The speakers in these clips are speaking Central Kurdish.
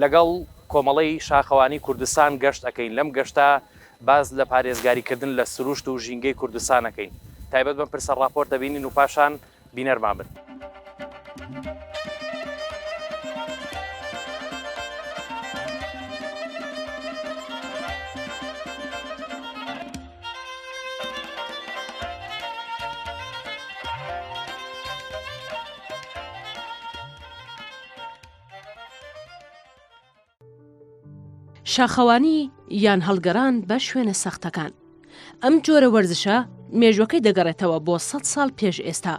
لەگەڵ کۆمەڵەی شاخەوانی کوردستان گەشت ئەکەین، لەم گەشتە باس لە پارێزگاری کردن لە سروشت و ژینگەی کوردستان ئەکەین. تایبەت بەم پرسە ڕاپۆرت ئەبینین و پاشان بینەرمان بن. شاخەوانی یان هەڵگەڕان بە شوێنە سەختەکان ئەم جۆرە وەرزشە مێژوەکەی دەگەڕێتەوە بۆ سە ساڵ پێش ئێستا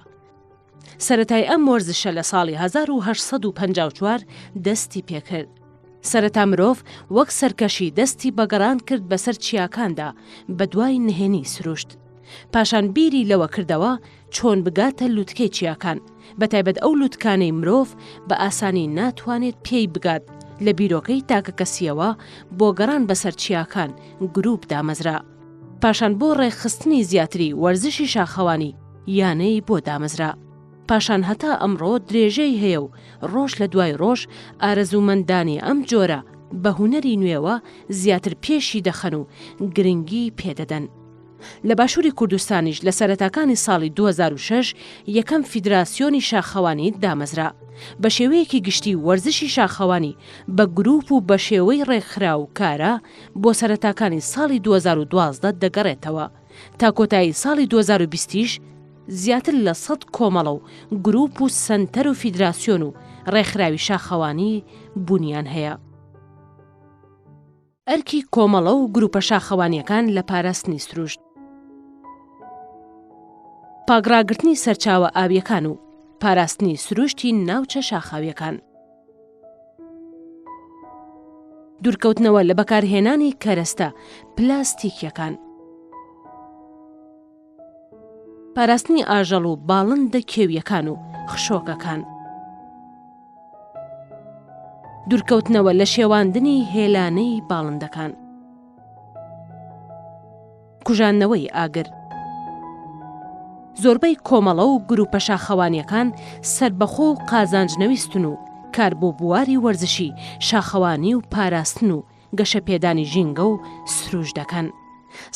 سەتای ئەم وەرزشە لە ساڵی 1954 دەستی پێکرد سەرەتا مرۆڤ وەک سەرکەشی دەستی بەگەڕان کرد بەسەر چیاکاندا بە دوای نهێنی سروشت پاشان بیری لەوە کردەوە چۆن بگاتە لووتکەی چیاکان بەتایبەت ئەو لووتکانەی مرۆڤ بە ئاسانی ناتوانێت پێی بگات لە بیرۆکەی تاکە کەسیەوە بۆ گەڕان بەسەر چیاکان گروپ دامەزرا پاشان بۆ ڕێکخستنی زیاتری وەرزشی شاخەوانی یانەی بۆ دامەزرا پاشان هەتا ئەمڕۆ درێژەی هەیە و ڕۆژ لە دوای ڕۆژ ئارەزوومەندانی ئەم جۆرە بە هونەری نوێوە زیاتر پێشی دەخەن و گرنگی پێدەدەن. لە باشووری کوردستانیش لە سەرەتاکانی ساڵی دوو هەزار و شەش یەکەم فیدراسیۆنی شاخەوانی دامەزرا. بە شێوەیەکی گشتی وەرزشی شاخەوانی بە گرووپ و بە شێوەی ڕێکخراو و کارا بۆ سەرەتاکانی ساڵی دوو هەزار و دوازدە دەگەڕێتەوە. تا کۆتایی ساڵی دوو هەزار و بیست یش زیاتر لە سەد کۆمەڵە و گرووپ و سەنتەر و فیدراسیۆن و ڕێکخراوی شاخەوانی بوونیان هەیە. ئەرکی کۆمەڵە و گروپە شاخەوانیەکان لە پاراستنی سروشت. پاکڕاگرتنی سەرچاوە ئاویەکان و پاراستنی سروشتی ناوچە شاخاویەکان. دورکەوتنەوە لە بەکارهێنانی کەرەستە پلاستیکیەکان. پاراستنی ئاژەڵ و باڵندە کێوییەکان و خشۆکەکان. دوورکەوتنەوە لە شێواندنی هێلانەی باڵندەکان. کوژاندنەوەی ئاگر. زۆربەی کۆمەڵە و گرووپە شاخەوانییەکان سەربەخۆ و قازانجنەویستن و کار بۆ بواری وەرزشی، شاخەوانی و پاراستن و گەشەپێدانی ژینگە و سرووش دەکەن.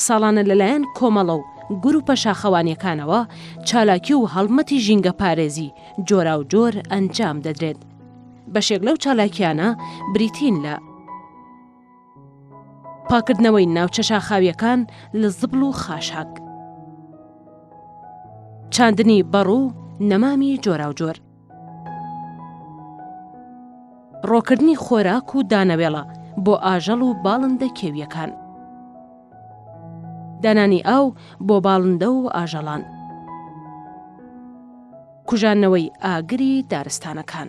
ساڵانە لەلایەن کۆمەڵە و گرووپە شاخەوانییەکانەوە چالاکی و هەڵمەتی ژینگەپارێزی جۆراوجۆر ئەنجام دەدرێت. بەشێک لەو چالاکییانە بریتین لە. پاککردنەوەی ناوچە شاخاوییەکان لە زبڵ و خاشاک. چاندنی بەڕ و نەمامی جۆراوجۆر. ڕۆکردنی خۆراک و دانەوێڵە بۆ ئاژەڵ و باڵندە کێوییەکان. دانانی ئاو بۆ باڵندە و ئاژەڵان. کوژاندنەوەی ئاگری دارستانەکان.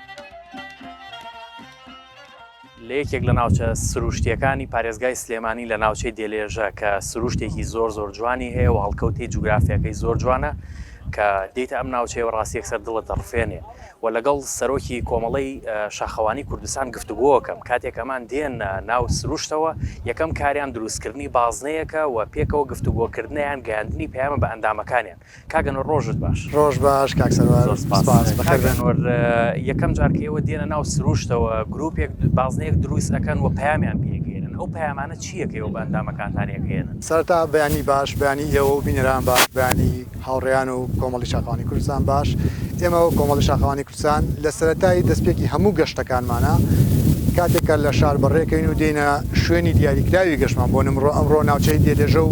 لە یەکێک لە ناوچە سرووشتییەکانی پارێزگای سلێمانی لە ناوچەی دێلێژە کە سرووشتێکی زۆر زۆر جوانی هەیە و هەڵکەوتەی جوگرافیاکەی زۆر جوانە کە دێیتە ئەم ناوچەیە و ڕاستی یەکسەر دڵت دەڕفێنێ و لەگەڵ سەرۆکی کۆمەڵەی شاخەوانی کوردستان گفتوگۆکەم کاتێک ئەمان دێن ناو سروشتەوە یەکەم کاریان دروستکردنی بازنەیەکە و پێکەوە گفتوگۆکردنیان گەیاندنی پەیامە بە ئەندامەکانیان کاک ئەنوەر ڕۆژت باش. ڕۆژ باش کاک سەروار زۆر سپاس سپاس بەخێر کاک بێن. ئەنوەر یەکەم جار کە ئێوە دێنە ناو سروشتەوە گروپێک بازنەیەک دروست ئەکەن و پەیامیان پێ ئەگەیەنن ئەو پەیامانە چییە کە ئێوە بە ئەندامەکانتان ئەگەیەنن؟ سەرەتا بەیانی باش بەیانی ئێوە و بینەران باش بەیانی هاوڕێیان و کۆمەڵی شاخەوانی کوردستان باش ئێمە و کۆمەڵی شاخەوانی سان لە سەرەتای دەستپێکی هەموو گەشتەکانمانە، کاتێک کە لە شار بەڕێکەین و دێینە شوێنی دیاریکراوی گەشتمان، بۆ نمڕۆ ئەمڕۆ ناوچەی دێلێژە و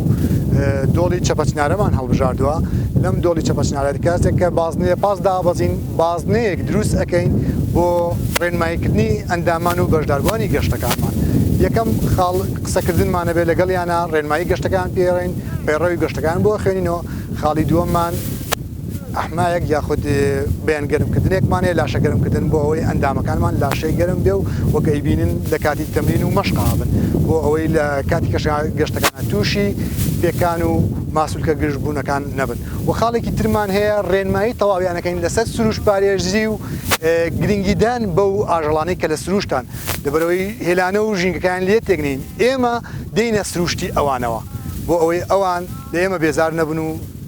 دۆڵی چەپەچنارەمان هەڵبژاردووە، لەم دۆڵی چەپەچنارە کاتێک کە بازنەیە پاس دابەزین بازنەیەک دروست ئەکەین بۆ ڕێنماییکردنی ئەندامان و بەشداربووانی گەشتەکانمان، یەکەم خاڵ قسەکردنمان ئەبێت لەگەڵیانا، ڕێنمایی گەشتەکەیان پێ ئەڵێین، پەیڕەوی گەشتەکەیان بۆ ئەخوێنینەوە، خاڵی دووەممان. ئەحمایەک یاخود بەیان گەرمکردنێکمان هەیە لاشە گەرمکردن بۆ ئەوەی ئەندامەکانمان لاشەی گەرم بێ و وەک ئەیبینن لە کاتی تەمرین و مەشقابن بۆ ئەوەی لە کاتی کەش گەشتەکان تووشی پێکان و ماسولکە گشتبوونەکان نەبن و خاڵێکی ترمان هەیە ڕێنمایی تەواویانەکەین لەسەر سروش پارێزی و گرنگیدان بەو ئاژەڵانەی کە لە سروشتان لەبەرەوەی هێلانە و ژینگەکان لێ تێکنین ئێمە دێنە سروشتی ئەوانەوە بۆ ئەوەی ئەوان لە ئێمە بێزار نەبن و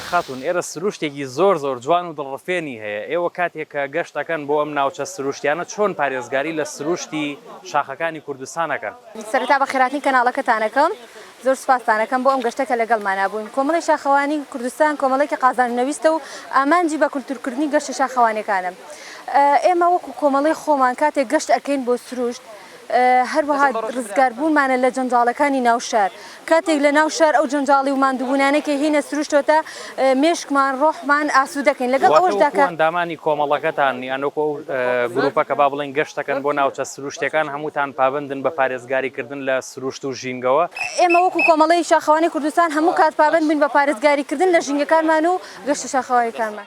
خاتون ئێرە سروشتێکی زۆر زۆر جوان و دڵڕفێنی هەیە ئێوە کاتێک کە گەشت ئەکەن بۆ ئەم ناوچە سروشتیانە چۆن پارێزگاری لە سروشتی شاخەکانی کوردستان ئەکەن؟ سەرەتا بەخێراتنی کەناڵەکەتان ئەکەم. زۆر سوپاستانەکەم بۆ ئەم گەشتە کە لەگەڵمانا بووین. کۆمەڵەی شاخەوانی کوردستان کۆمەڵەیەکی قازانجنەویستە و ئامانجی بە کولتوورکردنی گەشتە شاخەوانیەکانە. ئێمە وەکو کۆمەڵەی خۆمان کاتێک گەشت ئەکەین بۆ سروشت هەروەها ڕزگار بوونمانە لە جەنجاڵەکانی ناو شار. کاتێک لە ناو شار ئەو جەنجاڵی و ماندووبوونانەی کە هینە سروشتەوە تا. مێشکمان، ڕۆحمان ئاسوودەکەین، لەگەڵ ئەوەشدا کە. واتە وەکو ئەندامانی کۆمەڵەکەتان، یان وەکو ئەو گروپە کە با بڵێین گەشت دەکەن بۆ ناوچە سرووشتییەکان، هەمووتان پابەندن بە پارێزگاریکردن لە سرووشت و ژینگەوە. ئێمە وەکو کۆمەڵەی شاخەوانی کوردستان هەموو کات پابەند بووین بە پارێزگاریکردن لە ژینگەکانمان و گەشتە شاخەوانییەکانمان.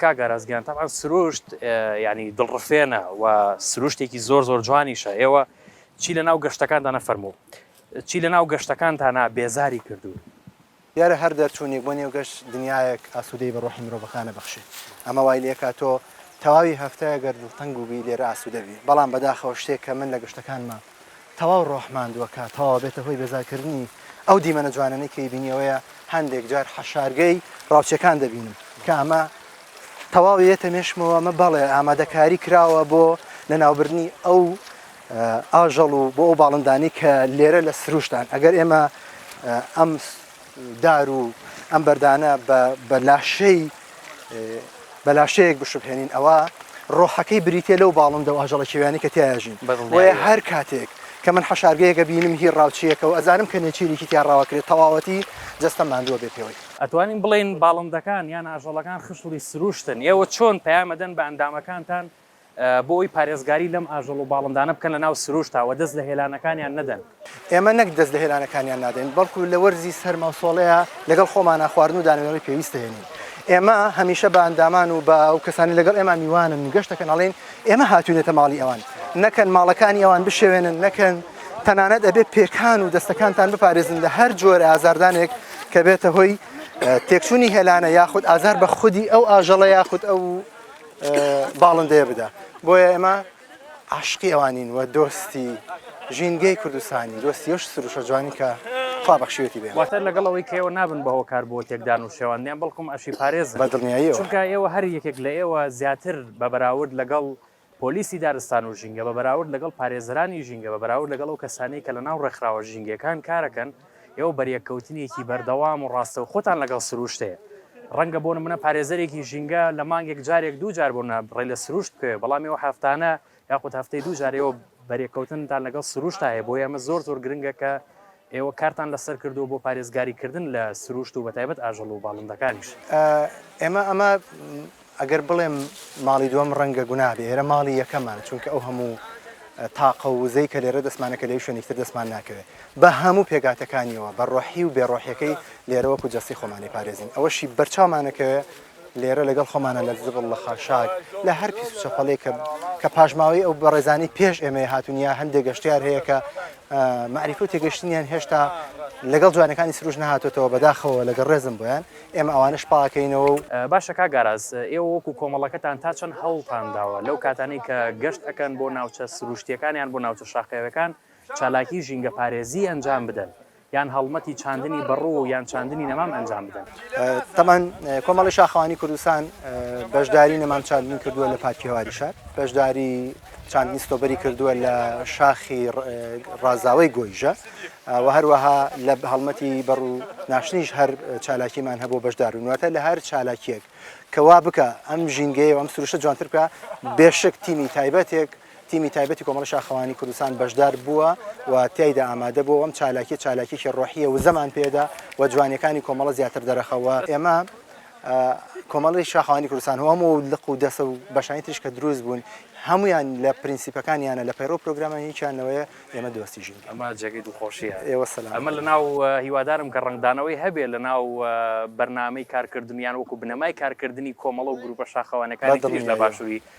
کاک ئاراس گیان تەبعەن سروشت یعنی دڵڕفێنە و سروشتێکی زۆر زۆر جوانیشە ئێوە چی لە ناو گەشتەکاندا نەفەرموو چی لە ناو گەشتەکانتانە بێزاری کردوون دیارە هەر دەرچوونێک بۆ نێو گەش دنیایەک ئاسوودەی بە ڕۆحی مرۆڤەکانە بەخشێ ئەمە وای لێکا تۆ تەواوی هەفتەیە گەر دڵتەنگ و بی لێرە ئاسوودەبی بەڵام بەداخەوە شتێک کە من لە گەشتەکانمە تەواو ڕۆح ماندووەکە تەواوە بێتە هۆی بێزارکردنی ئەو دیمەنە جوانانەی کەی بینیەوەیە هەندێک جار حەشارگەی ڕاوچەکان دەبینم کە ئەمە تەواویێتە مێشمەوە مە بەڵێ ئامادەکاری کراوە بۆ لە ناوبردنی ئەو ئاژەڵ و بۆ ئەو باڵندانەی کە لێرە لە سروشتان ئەگەر ئێمە ئەم دار و ئەم بەردانە بە لاشەی بە لاشەیەک بشبهێنین ئەوە ڕۆحەکەی بریتە لەو باڵندە و ئاژەڵە کێویانی کە تیاژین بۆیە هەر کاتێک کە من حەشارگەیەکە بینم هی ڕاوچیەکە و ئەزانم کە نێچیرێکی تیا ڕاوەکرێت تەواوەتی جستە ماندووە بێ پێوەی ئەتوانین بڵێن باڵندەکان یان ئاژەڵەکان خشڵی سروشتن ئێوە چۆن پەیامەدەن بە ئەندامەکانتان بۆ ئەوەی پارێزگاری لەم ئاژەڵ و باڵندانە بکەن لەناو سرووشتا و دەست لە هێلانەکانیان نەدەن. ئێمە نەک دەست لە هێلانەکانیان نادەین، بەڵکو لە وەرزی سەرما و سۆڵەیا لەگەڵ خۆمانا خواردن و دانەوێڵەی پێویست دەهێنین. ئێمە هەمیشە بە ئەندامان و بە ئەو کەسانەی لەگەڵ ئێمە میوانن و گەشت دەکەن ئەڵێین، ئێمە هاتووینەتە ماڵی ئەوان، نەکەن ماڵەکانی ئەوان بشێوێنن، نەکەن، تەنانەت ئەبێ پێکان و دەستەکانتان بپارێزن لە هەر جۆرە ئازاردانێک کە بێتە هۆی تێکچوونی هێلانە یاخود ئازار بە خودی ئەو ئاژەڵە یاخود ئەو باڵندەیە بدا بۆیە ئێمە عاشقی ئەوانین و دۆستی ژینگەی کوردستانی دۆستی یش سروشە جوانی کە خوا بەخشیوەتی بێ واتە لەگەڵ ئەوەی کە ئێوە نابن بە هۆکار بۆ تێکدان و شێواندیان بەڵکم ئەشی پارێز بە دڵنیاییەوە چونکە ئێوە هەر یەکێک لە ئێوە زیاتر بە بەراورد لەگەڵ پۆلیسی دارستان و ژینگە بە بەراورد لەگەڵ پارێزەرانی ژینگە بە بەراورد لەگەڵ ئەو کەسانی کە لە ناو ڕێکخراوە ژینگەکان کارەکەن ئێوە بەریەککەوتنێکی بەردەوام و ڕاستەوخۆتان لەگەڵ سرووشت هەیە. ڕەنگە بۆ نموونە پارێزەرێکی ژینگە لە مانگێک جارێک دوو جار بۆ نموونە ڕێ لە سرووشت بکەوێت، بەڵام ئێوە هەفتانە یاخود هەفتەی دوو جار ئێوە بەریەککەوتنتان لەگەڵ سرووشتا هەیە، بۆیە ئەمە زۆر زۆر گرنگە کە ئێوە کارتان لەسەر کردووە بۆ پارێزگاریکردن لە سرووشت و بەتایبەت ئاژەڵ و باڵندەکانیش. ئێمە ئەمە ئەگەر بڵێم ماڵی دووەم ڕەنگە گوناه بێ ئێرە ماڵی یەکەمان چونکە ئەو هەموو تاقە و وزەی کە لێرە دەستمانە کە لەوی شوێنیکتر دەستمان ناکەوێ بە هەموو پێگاتەکانیەوە بە ڕۆحی و بێ ڕۆحیەکەی لێرە وەکو جەستەی خۆمانی پارێزین ئەوەشی بەرچاومانەکە لێرە لەگەڵ خۆمانە لە زبڵ لە خاشاک لە هەر پیس و چەپەڵێک کە کە پاشماوەی ئەو بەڕێزانی پێش ئێمە هاتونیا هەندێک گەشتیار هەیە کە معریفە و تێگەشتنیان هێشتا لەگەڵ جوانەکانی سروش نهاتێتەوە بەداخەوە لەگەڵ ڕێزم بۆیان ئێمە ئەوانەش پاکەینەوە و. باشە کاک ئاراس ئێوە وەکو کۆمەڵەکەتان تا چەند هەوڵتان داوە لەو کاتانەی کە گەشت ئەکەن بۆ ناوچە سروشتیەکان یان بۆ ناوچە شاخەوێکان چالاکی ژینگە پارێزی ئەنجام بدەن یان هەڵمەتی چاندنی بەڕو یان چاندنی نەمام ئەنجام بدەن؟ تەبعەن کۆمەڵی شاخەوانی کوردستان بەشداری نەمام چاندنی کردوە لە پارکی هەواری شار بەشداری. چاندنی ستۆبەری کردووە لە شاخی ڕازاوەی گۆیژە و هەروەها لە هەڵمەتی بەڕ و ناشتنیش هەر چالاکیمان هەبوو بەشدار و نواتە لە هەر چالاکیەک کەوا بکە ئەم ژینگەیە ئەم سروشە جوانتر بکە بێشک تیمی تایبەتێک تیمی تایبەتی کۆمەڵی شاخەوانی کوردستان بەشدار بووە و تایدا ئامادە بوو ئەم چالاکی چالاکیی ڕۆحیە و زەمان پێدا و جوانەکانی کۆمەڵە زیاتر دەرەخەوە ئێمە کۆمەڵی شاخوانی کوردستان هەم و لق و دەسە و بەشانی تریش کە دروست بوون هەمویان لە پرینسیپەکانیانە لە پەیڕۆ پرۆگرامانی هیچیانەوەیە ئێمە دۆستی ژین ئەمە جێگەی دوخۆشیە ئێوە سەلام ئەمە لە ناو هیوادارم کە ڕنگدانەوەی هەبێ لە ناو بەرنامەی کارکردنیان وەکو بنەمای کارکردنی کۆمەڵە و گروپە شاخەوانەکانی تریش لە باشووری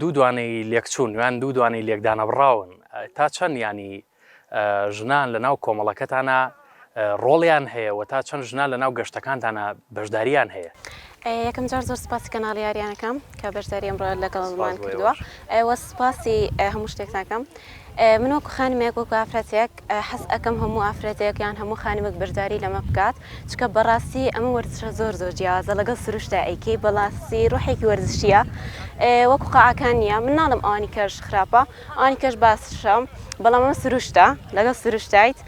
دوو دوانەی لێکچوون یان دوو دوانەی لێکدانەبڕاون، تا چەند یانی ژنان لە ناو کۆمەڵەکەتانە ڕۆڵیان هەیە و تا چەند ژنان لە ناو گەشتەکانتانە بەشداریان هەیە؟ یەکەم جار زۆر سپاسی کەناڵی یاریانەکەم کە بەشداری ئەمڕۆ لەگەڵمان کردووە، ئەوە سپاسی هەموو شتێکتانکەم. من وەکو خانمێک وەکو ئافرەتێک حەز ئەکەم هەموو ئافرەتێک یان هەموو خانمێک بەشداری لەمە بکات چکە بەڕاستی ئەمە وەرزشە زۆر زۆر جیازە لەگەڵ سروشتا ئەیکەی بەڵاستی ڕحێکی وەرزشیە وەکو قاعکان نییە من ناڵم ئەوانی کەش خراپە ئەوانی کەش باسشەم بەڵام ئەمە سروشتا لەگەڵ سروشتایت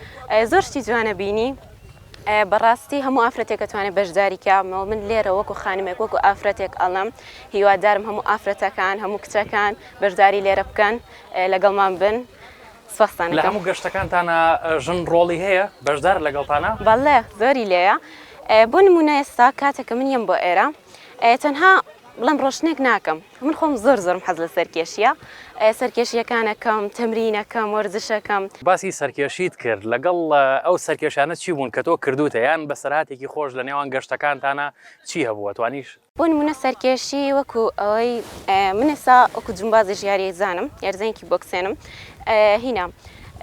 زۆر شتی جوانە بینی بەڕاستی هەموو ئافرەتێکەتوانێت بەشداریکەمەوە من لێرە وەکو خانمێک وەکو ئافرەتێک ئەڵم هیوادارم هەموو ئافرەتەکان هەموو کچەکان بەشداری لێرە بکەن لەگەڵمان بن سوپاستان دەکەم. لە هەموو گەشتەکانتانا ژن ڕۆڵی هەیە؟ بەشدارە لەگەڵتانا؟ بەڵێ زۆری لێیە بۆ نموونە ئێستا کاتێک کە من یەم بۆ ئێرە تەنها بڵێم ڕۆشتنێک ناکەم من خۆم زۆر زۆرم حەز لە سەرکێشیە سەرکێشیەکانەکەم تەمرینەکەم وەرزشەکەم. باسی سەرکێشیت کرد لەگەڵ ئەو سەرکێشانە چی بوون کە تۆ کردووتە یان بەسەرهاتێکی خۆش لە نێوان گەشتەکانتانا چی هەبووە توانیش بۆ نموونە سەرکێشی وەکو ئەوەی من ئێستا وەکو جمبازی ژیاری زانم یارزانێکی بۆکسێنم هینا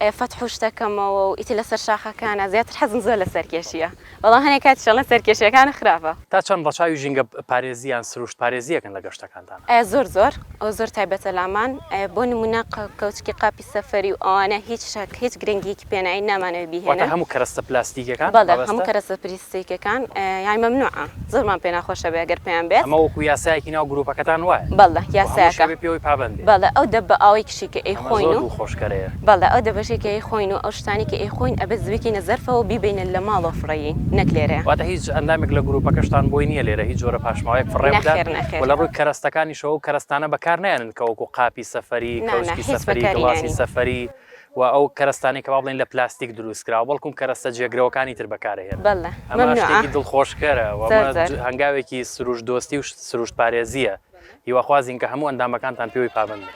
فەتح و شتەکەمەوە و ئیتر لەسەر شاخەکانە زیاتر حەزم زۆر لە سەرکێشیە بەڵام هەنێک کاتی شەڵە سەرکێشیەکانە خراپە. تا چەند ڕەچاوی ژینگە پارێزی یان سروشت پارێزیەکن لە گەشتەکانتان؟ زۆر زۆر ئەو زۆر تایبەتە لامان بۆ نموونە کەوچکی قاپی. سەفەری و ئەوانە هیچ شک هیچ گرنگیەکی پێ ناین نامانەوێ بیهێنن. واتە هەموو کەرەستە پلاستیکەکان مەبەستە؟ بەڵێ هەموو کەرەستە پریستیکەکان یانی مەمنوعە زۆرمان پێ ناخۆشە بێ گەر پێیان بێت. ئەمە وەکو یاسایەکی ناو گروپەکەتان وایە؟ بەڵێ یاسایەکە. وهەموو شەوێ پێوەی پابەند بێ؟ بەڵێ ئەو دەبە ئاوەی کشی کە ئەی خۆین و. ئەمە زۆر دڵخۆش کەرەیە. بەڵێ ئەو دەبەشەی کە ئەی خۆین و ئەو شتانی کە ئەی خۆین ئەبێ زبیکەینە زەرفەوە و بیبەینە لە ماڵەوە فڕێین نەک لێرەیە. واتە هیچ ئەندامێک لە گروپەکەشتان بۆی نیە لێرە هیچ جۆرە پاشماوەیەک فڕێ بدات؟ نەخێر نەخێر. وە لە ڕووی کەرەستەکانیشەوە ئەو کەرەستانە بەکار نایەنن کە وەکو قاپی. سفری، کەوچکی سفری، گڵاسی سفری و ئەو کەرەستانەی کە وا بڵێین لە پلاستیک دروست کراوە، بەڵکم کەرەستە جێگرەوەکانی تر بەکارئەهێنن. ئەمە شتێکی دڵخۆشکەرە و ئەمە هەنگاوێکی سروشت دۆستی و سروشت پارێزییە. هیواخوازین کە هەموو ئەندامەکانتان پێوەی پابەند بن.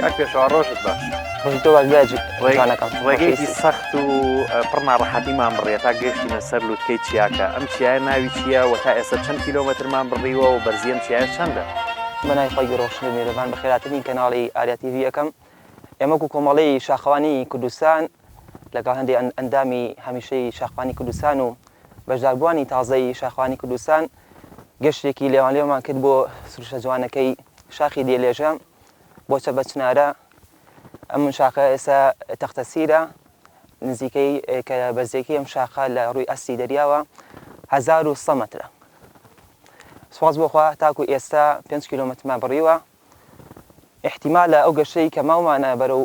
کاک پێشەوا ڕۆژت باش ڕۆژی تۆ باش برای ڕێگانەکەم ڕێگەیەکی سەخت و پڕ ناڕەحەتیمان بڕیە تا گەشتینە سەر لوتکەی چیاکە ئەم چیایە ناوی چییە و تا ئێستا چەند کیلۆمەترمان بڕیوە و بەرزیەم چیایە چەندە بەنای خۆی ڕۆشن و میێرەبان بەخێراترین کەناڵی ئاریا تیڤ یەکەم ئێمەک و کۆمەڵەی شاخەوانی کوردستان لەگەڵ هەندێک ئەندامی هەمیشەی شاخوانی کوردستان و بەشداربووانی تازەی شاخوانی کوردستان گەشتێکی لێوانلێومان کرد بۆ سروشە جوانەکەی شاخی دێلێژە بۆ چە بەچنارە ئەم من شاخە ئێستا تەختەسیرە نزیکەی کە بەزێکی ئەم شاخە لە ڕووی ئەستی دەریاوە 1900 مترە سواز بۆخوا تاکو ئێستا 5 کیلومترمان بڕیوە ئیحتیمالە ئەو گەشەی کە ماومانە بەرەو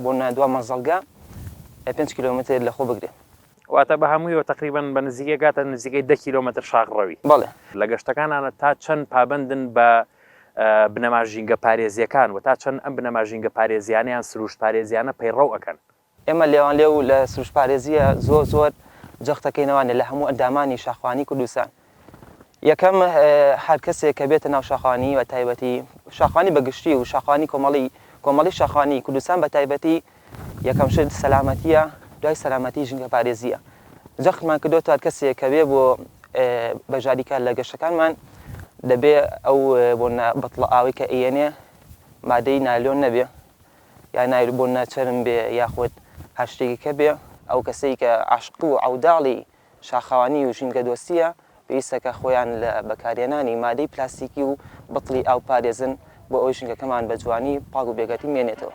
بۆ نادوا مەزەڵگە پێنج کیلۆمەتر لە خۆ بگرێ. واتە بە هەموویەوە تەقریبەن بە نزیکەی ئەگاتە نزیکەی دە کیلۆمەتر شاخ ڕەوی. بەڵێ. لە گەشتەکانانا تا چەند پابەندن بە بنەما ژینگەپارێزییەکان و تا چەند ئەم بنەما ژینگەپارێزییانە یان سرووشتپارێزییانە پەیڕەو ئەکەن؟ ئێمە لێوانلێو و لە سروشتپارێزییە زۆر زۆر جەختەکەینەوانێ لە هەموو ئەندامانی شاخوانی کوردستان. یەکەم، هەر کەسێک کە بێتە ناو شاخوانی بە تایبەتی، شاخوانی بە گشتی و شاخوانی کۆمەڵی، کۆمەڵی شاخوانی کوردستان بە تایبەتی، یەکەم شت سەلامەتییە، دوای سەلامەتی ژینگەپارێزییە. جەختمان کردۆتەوە هەر کەسێک کە بێ بۆ بەشداری کار لە گەشتەکانمان، دەبێ ئەو بۆنە بتڵە ئاوەی کە ئەیەنێ مادەی نایلۆن نەبێ. یا نایل بۆن ناچەرم بێ یاخود هەر شتێکی کە بێ ئەو کەسەی کە عەشق و عەوداڵی شاخەوانی و ژینگەدۆستییە پێویستە کە خۆیان لە بەکارهێنانی مادەی پلاستیکی و بتڵی ئاو بپارێزن بۆ ئەوەی ژینگەکەمان بە جوانی پاک و بێگەردی بمێنێتەوە.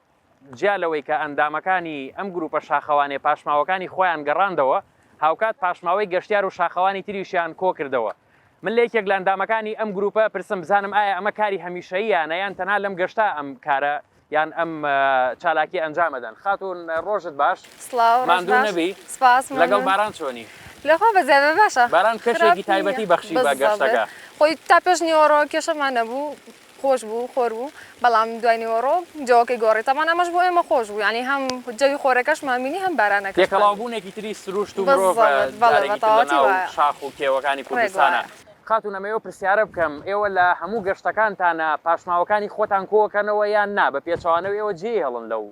جیا لەوەی کە ئەندامەکانی ئەم گروپە شاخەوانێ پاشماوەکانی خۆیان گەڕاندەوە هاوکات پاشماوەی گەشتیار و شاخەوانی تریشیان کۆکردەوە من لە یەکێک لە ئەندامەکانی ئەم گروپە پرسم بزانم ئایا ئەمە کاری هەمیشەییانە یان تەنها لەم گەشتا ئەم کارە یان ئەم چالاکی ئەنجامەدەن خاتون ڕۆژت باش ماندوو نەبی لەگەڵ باران چۆنی لەخوا بەزیادە باشە باران کەشێکی تایبەتی بەخشی بە گەشتەکە خۆی تا پێش نیوەڕۆ کێشەمان نەبوو خۆش بوو خۆر بوو بەڵام دوای نیوەڕۆ جەوەکەی گۆڕی تەبان ئەمەش بۆ ئێمە خۆش بوو یانی هەم جەوی خۆرەکەشمان بینی هەم بارانەکە تێکەڵاوبوونێکی تری سروشت و مرۆڤ جارێکی تر لەناو شاخ و کێوەکانی کوردستانە. خاتوون ئەمە ئێوە پرسیارە بکەم ئێوە لە هەموو گەشتەکانتانا پاشماوەکانی خۆتان کۆکەنەوە یان نا بە پێچەوانەوە ئێوە جێی هەڵن لەو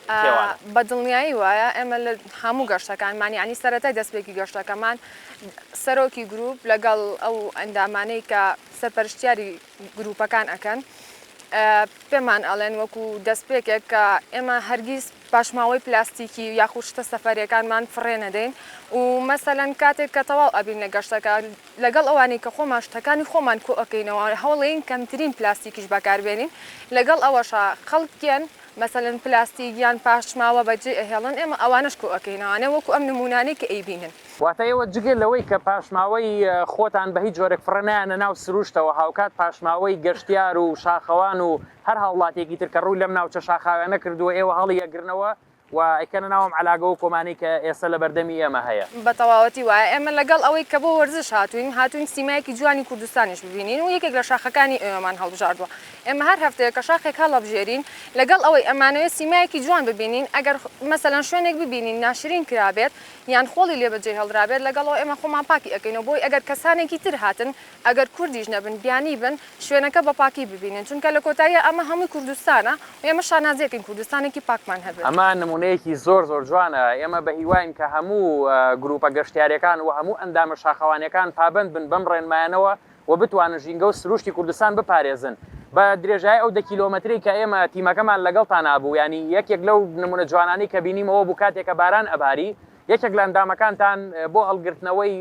کێوانە. بە دڵنیایی وایە ئێمە لە هەموو گەشتەکانمان یانی سەرەتای دەستپێکی گەشتەکەمان سەرۆکی گروپ لەگەڵ ئەو ئەندامانەی کە سەرپەرشتیاری گروپەکان ئەکەن پێمان ئەڵێن وەکو دەستپێکێک کە ئێمە هەرگیز پاشماوەی پلاستیکی یاخود شتە سەفەریەکانمان فڕێ نەدەین و مەسەلەن کاتێک کە تەواو ئەبین لە گەشتەکە لەگەڵ ئەوانەی کە خۆمان شتەکانی خۆمان کۆئەکەینەوە هەوڵێین کەمترین پلاستیکیش بەکاربێنین لەگەڵ ئەوەشا خەڵکیان مەسەلەن پلاستیک یان پاشماوە بەجێ ئەهێڵن ئێمە ئەوانەش کۆ ئەکەینەوە ئەنێ وەکو ئەم نمونانەی کە ئەیبینن. واتە ئێوە جگە لەوەی کە پاشماوەی خۆتان بە هیچ جۆرێک فڕێ نایەنە ناو سروشتەوە هاوکات پاشماوەی گەشتیار و شاخەوان و هەر هاوڵاتیەکی تر کە ڕووی لەم ناوچە شاخاویانە کردووە ئێوە هەڵی ئەگرنەوە و ئەیکەنە ناو ئەم عەلاگە و کۆمانەی کە ئێسە لە بەردەمی ئێمە هەیە. بە تەواوەتی وایە ئێمە لەگەڵ ئەوەی کە بۆ وەرزش هاتووین هاتووین سیمایەکی جوانی کوردستانیش ببینین و یەکێک لە شاخەکانی ئێوەمان هەڵبژاردووە ئێمە هەر هەفتەیەکە شاخێک هەڵەبژێرین، لەگەڵ ئەوەی ئەمانەوێت سیمایەکی جوان ببینین، ئەگەر مەسەلەن شوێنێک ببینین ناشرین کرابێت یان خۆڵی لێ بەجێ هێڵدرابێت، لەگەڵ ئەوە ئێمە خۆمان پاکی ئەکەینەوە، بۆی ئەگەر کەسانێکی تر هاتن، ئەگەر کوردیش نەبن، بیانی بن، شوێنەکە بە پاکی ببینن، چونکە لە کۆتاییا ئەمە هەمووی کوردستانە و ئێمە شانازی ئەکەین کوردستانێکی پاکمان هەبێت. ئەمە نموونەیەکی زۆر زۆر جوانە، ئێمە بە هیواین کە هەموو گرووپە گەشتیارییەکان و هەموو ئەندامە شاخەوانییەکان پابەند بن بەم ڕێنمایانەوە و بتوانن ژینگە و سرووشتی کوردستان بپارێزن بە درێژایی ئەو دە کیلۆمەترەی کە ئێمە تیمەکەمان لەگەڵتانا بوو یانی یەکێک لەو نموونە جوانانەی کە بینیم ئەوە بوو کاتێک کە باران ئەباری یەکێک لە ئەندامەکانتان بۆ هەڵگرتنەوەی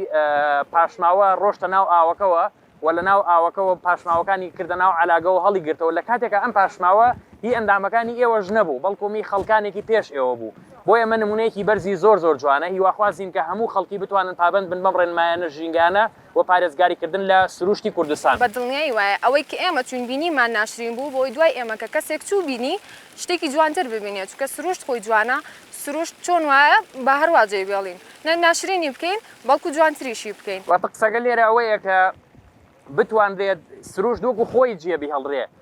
پاشماوە ڕۆشتە ناو ئاوەکەوە و لە ناو ئاوەکەوە پاشماوەکانی کردە ناو علاگەوە هەڵی گرتەوە لە کاتێکە ئەم پاشماوە هی ئەندامەکانی ئێوەش نەبوو بەڵکو می خەڵکانێکی پێش ئێوە بوو بۆ ئێمە نمونەیەکی بەرزی زۆر زۆر جوانە هیواخوازین کە هەموو خەڵکی بتوانن پابەند بن بەم ڕێنمایانە ژینگانە بۆ پارێزگاری کردن لە سروشتی کوردستان. بەدڵنیایی وایە ئەوەی کە ئێمە چوین بینیمان ناشرین بوو بۆ دوای ئێمە کە کەسێک چوو بینی شتێکی جوانتر ببینێ چونکە سروشت خۆی جوانە سروشت چۆن وایە با هەروا جێی بێڵین نەک ناشرینی بکەین بەڵکو جوانتریشی بکەین. واتە قسەکە لێرە ئەوەیە کە بتوانرێت سروشت وەکو خۆی جێ بیهڵرێ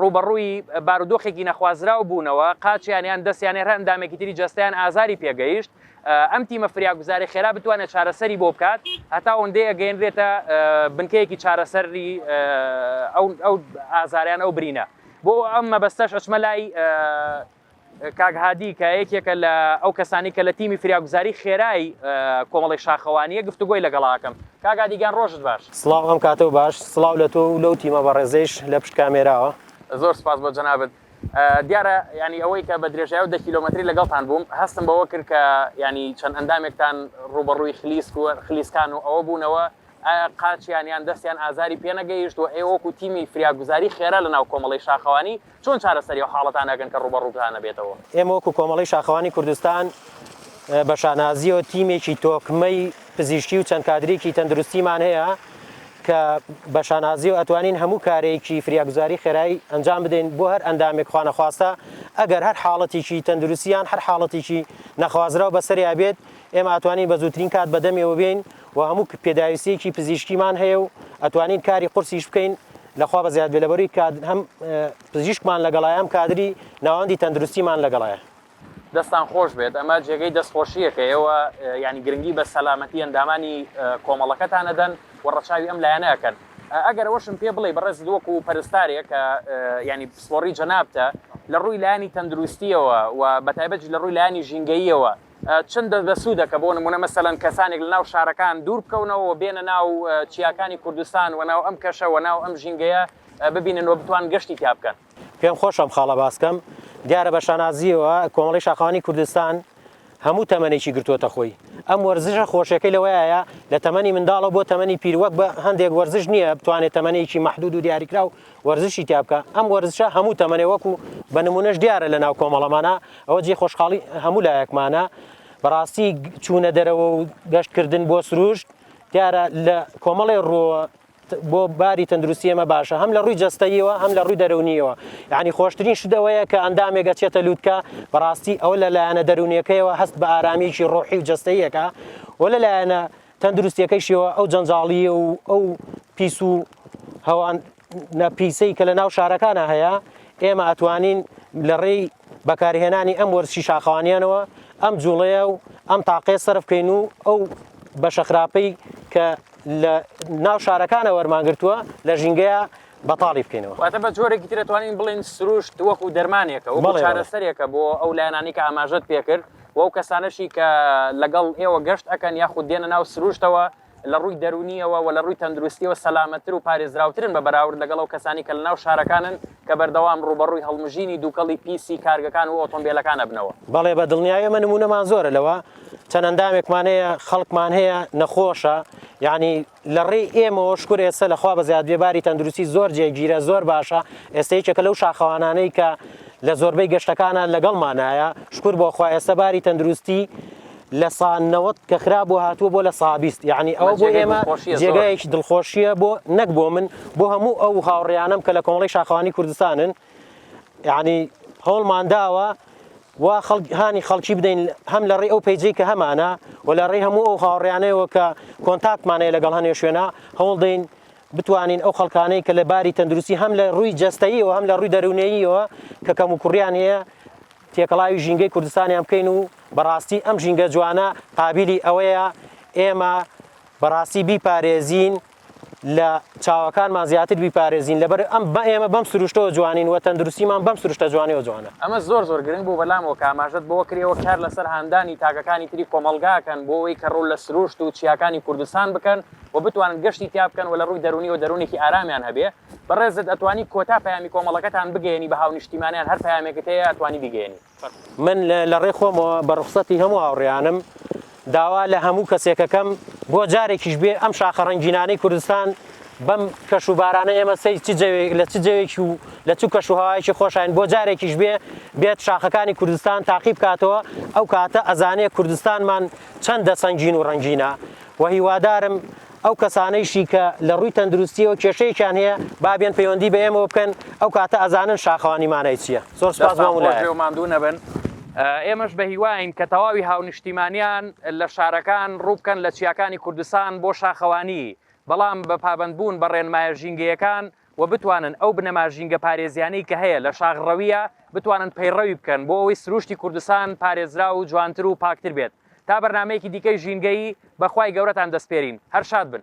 ڕووبەڕووی بارودۆخێکی نەخوازراو بوونەوە، قاچیان یان دەستیان یان هەر ئەندامێکی تری جەستەیان ئازاری پێگەیشت، ئەم تیمە فریاگوزارەی خێرا بتوانێت چارەسەری بۆ بکات، هەتا ئەوەندەی ئەگەیەنرێتە بنکەیەکی چارەسەری ئەو ئازارە یان ئەو برینە، بۆ ئەم مەبەستەش ئەچمە لای. کاک هادی کە یەکێکە لە ئەو کەسانی کە لە تیمی فریاگوزاری خێرای کۆمەڵی شاخەوانیە گفتوگۆی لەگەڵاکەم کاک هادیگیان ڕۆژت باش. سڵاو ئەم کاتە و باش سڵاو لە تۆ و لەو تیمە بەڕێزەیش لە پشت کامێراوە. زۆر سوپاس بۆ جەنابت. دیارە یانی ئەوەی کە بە درێژای ئەو دە کیلۆمەتری لەگەڵتان بووم هەستم بەوە کرد کە یانی چەند ئەندامێکتان ڕووبەڕووی خلیسک و خلیسکان و ئەوە بوونەوە، قاچیان یان دەستیان ئازاری پێ نەگەیشت و ئێوە وەکو تیمی فریاگوزاری خێرا لەناو کۆمەڵەی شاخەوانی چۆن چارەسەری ئەو حاڵەتانە ئەکەن کە ڕووبەڕووتان ئەبێتەوە؟ ئێمە وەکو کۆمەڵەی شاخەوانی کوردستان بە شانازییەوە تیمێکی تۆکمەی پزیشکی و چەند کادرێکی تەندروستیمان هەیە کە بە شانازییەوە ئەتوانین هەموو کارێکی فریاگوزاری خێرای ئەنجام بدەین بۆ هەر ئەندامێک خوا نەخواستە ئەگەر هەر حاڵەتێکی تەندروستیان هەر حاڵەتێکی نەخوازراو بەسەریا بێت ئێمە ئەتوانین بە زووترین کات بەدەمێوە بێین و هەموو پێداویستیەکی پزیشکیمان هەیە و ئەتوانین کاری قورسیش بکەین لەخوا بە زیاد لەبەروی کات هەم پزیشکمان لەگەڵایەم کادری ناوەندی تەندروستیمان لەگەڵایە دەستان خۆش بێت ئەمە جێگەی دەستخۆشیەکە ئێوە ینی گرنگی بە سەلامەتی ئەندامانی کۆمەڵەکەتانەدەن و ڕەچاوی ئەم لایەنە ئەکەن ئەگەر وەشم پێ بڵێ بەڕێز دۆک و پەرستارێک کە ینی پسپۆری جەنابتە لە ڕووی لایانی تەندروستیەوە و بەتایبەت لە ڕووی لایانی ژینگەییەوە چەند دەست بەسوودەکە بۆ نموونە مەسەلەن کەسانێک لەناو شارەکان دوور بکەونەوە و بێنە ناو چیاکانی کوردستان و ناو ئەم کەشە و ناو ئەم ژینگەیە ببینن و بتوان گەشتی تیا بکەن. پێم خۆشە ئەم خاڵە باس کەم، دیارە بە شانازییەوە کۆمەڵەی شاخەوانی کوردستان هەموو تەمەنێکی گرتووەتە خۆی، ئەم وەرزشە خۆشیەکەی لەوەیایە لە تەمەنی منداڵەوە بۆ تەمەنی پیر وەک بە هەندێک وەرزش نییە بتوانێت تەمەنێکی مەحدوود و دیاریکراو وەرزشی تیا بکە ئەم وەرزشە هەموو تەمەنێ وەکو بە نمونەش دیارە لە ناو کۆمەڵەمانا ئەوە جێ خۆشحاڵی هەموو لایەکمانە بەڕاستی چوونە دەرەوە و گەشتکردن بۆ سروشت دیارە لە کۆمەڵێ ڕۆوە بۆ باری تەندروستی ئێمە باشە هەم لە ڕووی جەستەیەوە هەم لە ڕووی دەرونیەوە یعنی خۆشترین شتەوەیە کە ئەندامێک ئەچێتە لووتکە بەڕاستی ئەوە لە لایەنە دەرونیەکەیەوە هەست بە ئارامیکی ڕۆحی و جەستەیەکە و لە لایەنە تەندروستیەکەیشیەوە ئەو جەنجاڵیی و ئەو پیس و هەوان نەپیسەی کە لە ناو شارەکانە هەیە ئێمە ئەتوانین لە ڕێی بەکارهێنانی ئەم وەرزشی شاخەوانیانەوە ئەم جوڵەیە و ئەم تاقێ سرف بکەین و ئەو بە شەخراپەی کە لە ناو شارەکانە وەرمانگرتووە لە ژینگەیە بەتاڵی بکەینەوە واتە بە جۆرێکی ترەتوانین بڵین سروشت وەکو دەرمانێکە وەکو چارەسەرێکە بۆ ئەو لایەنانی کە ئاماژەت پێکرد و ئەو کەسانەشی کە لەگەڵ ئێوە گەشت ئەکەن یاخود دێنە ناو سروشتەوە لە ڕووی دەروونییەوە و لە ڕووی تەندروستییەوە سەلامەتتر و پارێزراوترن بە بەراورد لەگەڵ ئەو کەسانی کە لەناو شارەکانن کە بەردەوام ڕووبەڕووی هەڵمژینی دووکەڵی پیسی کارگەکان و ئۆتۆمبێلەکان ئەبنەوە. بەڵێ بە دڵنیایی ئێمە نموونەمان زۆرە لەوە، چەند ئەندامێکمان هەیە، خەڵکمان هەیە نەخۆشە، یەعنی لە ڕێی ئێمەوە شکور ئێستە لە خوا بەزیاد بێ باری تەندروستی زۆر جێگیرە زۆر باشە ئێستە یەکێکە لەو شاخەوانانەی کە لە زۆربەی گەشتەکانە لەگەڵمانایە شکور بۆ خوا ئێستە باری تەندروستی لە سانەوەت کە خرا بۆ هاتووە بۆ لە سابیست یعنی ئەو بۆ ئێمە جێگایەکی دڵخۆشیە بۆ نەک بۆ من بۆ هەموو ئەو هاوڕیانم کە لە کۆمەڵی شاخوانی کوردستانن یەعنی هەوڵمان داوە و هاانی خەڵکی بدەین هەم لە ڕێ ئەو پیجەی کە هەمانە و لە ڕێ هەموو ئەو هاوڕیانەوە کە کۆنتاکتمانەیە لەگەڵ هەنێ شوێنە هەوڵ دەین بتوانین ئەو خەڵکانەی کە لە باری تەندروستی هەم لە ڕووی جستایی و هەم لە ڕووی دەروونەیەوە کە کەم و کوڕیان هەیە تێکەڵاوی ژینگەی کوردستانیان بکەین و بەڕاستی ئەم ژینگە جوانە قابلی ئەوەیە ئێمە بەڕاستی بیپارێزین لە چاوەکانمان زیاتر بیپارێزین لەبەر ئێمە بەم سروشتەوە جوانین و تەندروستیمان بەم سروشتە جوانەوە جوانە. ئەمە زۆر زۆر گرنگ بوو بەلام وەک ئاماژەت بەوە کرد ئێوە کار لەسەر هاندانی تاکەکانی تری کۆمەڵگا ئەکەن بۆ ئەوەی کە ڕوو لە سروشت و چیاکانی کوردستان بکەن و بتوانن گەشتی تیا بکەن و لە ڕووی دەروونیەوە دەروونێکی ئارامیان هەبێ بەڕێزت ئەتوانی کۆتا پەیامی کۆمەڵەکەتان بگەیەنی بە هاونیشتیمانیان هەر پەیامێکت هەیە ئەتوانی بیگەیەنی. من لە ڕێ خۆمەوە بە ڕوخسەتی هەموو هاوڕێیانم داوا لە هەموو کەسێکەکەم بۆ جارێکیش بێ ئەم شاخە ڕەنگینانەی کوردستان بەم کەش و بارانە ئێمە سەی چ جەوێک لە چ جەوێکی و لە چ کەش و هەوایەکی خۆشین بۆ جارێکیش بێ بێت شاخەکانی کوردستان تاقی بکاتەوە ئەو کاتە ئەزانێ کوردستانمان چەندە سەنگین و ڕەنگینە و هیوادارم ئەو کەسانەیشی کە لە ڕووی تەندروستیەوە کێشەیەکیان هەیە با بێن پەیوەندی بە ئێمەوە بکەن ئەو کاتە ئەزانن شاخەوانی مانای چییە زۆر سپاس مامۆستا ماندوو نەبن ئێمەش بە هیواین کە تەواوی هاونیشتیمانیان لە شارەکان ڕووبکەن لە چیاکانی کوردستان بۆ شاخەوانی بەڵام بە پابەندبوون بە ڕێنمایە ژینگەیەکان و بتوانن ئەو بنەما ژینگە پارێزیانەی کە هەیە لە شاخ ڕەویە بتوانن پەیڕەوی بکەن بۆ ئەوەی سروشتی کوردستان پارێزراو و جوانتر و پاکتر بێت تا بەرنامەیەکی دیکەی ژینگەیی بە خوای گەورەتان دەسپێرین هەر شاد بن.